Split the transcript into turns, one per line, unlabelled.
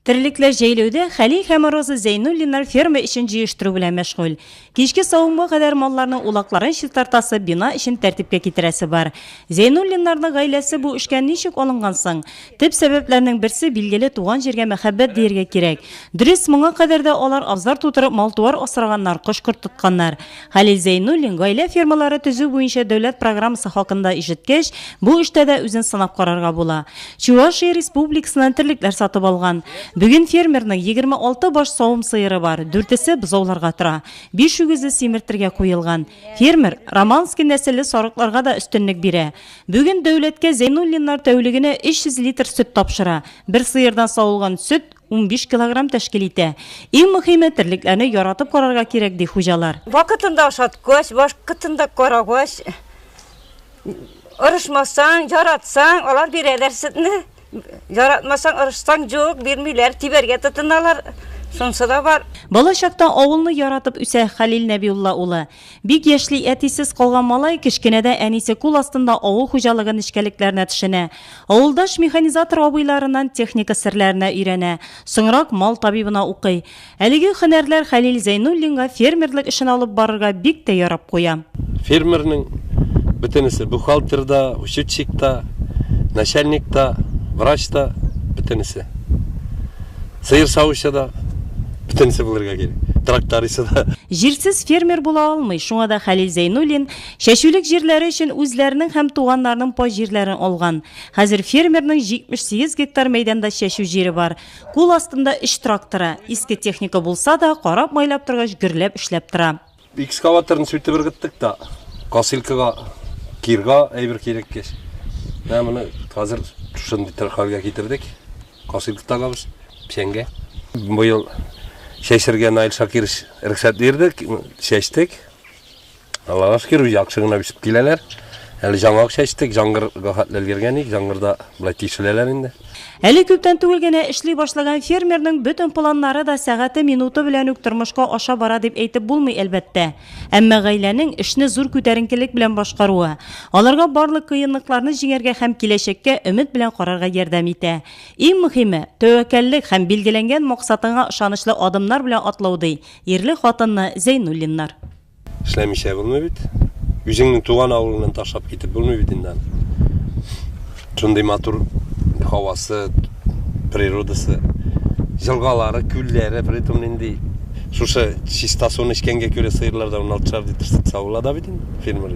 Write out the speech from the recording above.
Терлекләр җәйләүдә Хәлил һәм Роза Зәйнуллиннар ферма эшен җыештыру белән мәшгуль. Кичке савымга кадәр малларның улакларын чистартасы, бина эчен тәртипкә китерәсе бар. Зәйнуллиннарның гаиләсе бу эшкә ничек алынган соң? Төп сәбәпләрнең берсе, билгеле, туган җиргә мәхәббәт дияргә кирәк. Дөрес, моңа кадәр дә алар абзар тутырып мал-туар асраганнар, кош-корт тотканнар. Хәлил Зәйнуллин гаилә фермалары төзү буенча дәүләт программасы хакында ишеткәч, бу эштә дә үзен сынап карарга була. Чувашия Республикасыннан терлекләр сатып алган. Бүген фермерның 26 баш савым сыеры бар, дүртесе бозауларга тора. Биш үгезе симертергә куелган. Фермер Романский нәселле сарыкларга да өстенлек бирә. Бүген дәүләткә Зәйнуллиннар тәүлегенә 300 литр сөт тапшыра. Бер сыердан савылган сөт 15 килограмм тәшкил итә. Иң мөхиме терлекләрне яратып карарга кирәк ди хуҗалар. Вакытында ашаткач, вакытында карагач, орышмасаң, яратсаң, алар бирәләр сөтне. Яратмасаң, орышсаң, юк, бирмиләр, тибәргә тотыналар. Шунсы да бар. Бала чакта авылны яратып үсә Хәлил Нәбиулла улы. Бик яшьли әтисез калган малай кечкенәдә әнисе кул астында авыл хуҗалыгы нечкәлекләренә төшенә. Авылдаш механизатор абыйларыннан техника серләренә өйрәнә, соңрак мал табибына укый. Әлеге һөнәрләр Хәлил Зәйнуллинга фермерлык эшен алып барырга бик тә ярап куя. Фермерның бөтенесе, бухгалтер да, учетчик та, начальник та, врач та, бөтенесе. Сыер савучы да. Бөтенесе булырга кирәк. Трактористы да. Җирсез фермер була алмый. Шуңа да Хәлил Зәйнуллин чәчүлек җирләре өчен үзләренең һәм туганнарының пай җирләрен алган. Хәзер фермерның 78 гектар мәйданда чәчү җире бар. Кул астында өч тракторы. Иске техника булса да, карап-майлап торгач, гөрләп эшләп тора. Экскаваторны сүтеп ыргыттык та, косилкага, кирга әйбер кирәк кеш. Менә моны хәзер шундый төр хәлгә китердек. Косилка тагабыз, печәнгә. Быел чәчергә Наил Шакирович рөхсәт бирде, чәчтек. Аллага шөкер, яхшы гына үсеп киләләр. Әле жаңак чәчтек, җангырга хәтле өлгергән идек, җангырда болай тишеләләр инде. Әле күптән түгел генә эшли башлаган фермерның бөтен планнары да сәгате-минуты белән үк тормышка аша бара дип әйтеп булмый, әлбәттә. Әмма гаиләнең эшне зур күтәренкелек белән башкаруы, аларга барлык кыенлыкларны җиңәргә һәм киләчәккә өмет белән карарга ярдәм итә. Иң мөһиме, тәвәккәллек һәм билгеләнгән максатыңа ышанычлы адымнар белән атлау, ди ирле хатынны Зәйнуллиннар. Эшләмичә булмый бит. Үзеңнең туган авылыңнан ташлап китеп булмый бит инде. Шундый матур һавасы, природасы, елгалары, күлләре, при том нинди шушы чиста суны эчкәнгә күрә сыерлар да 16 шар литр сөт савыла да бит инде фермер.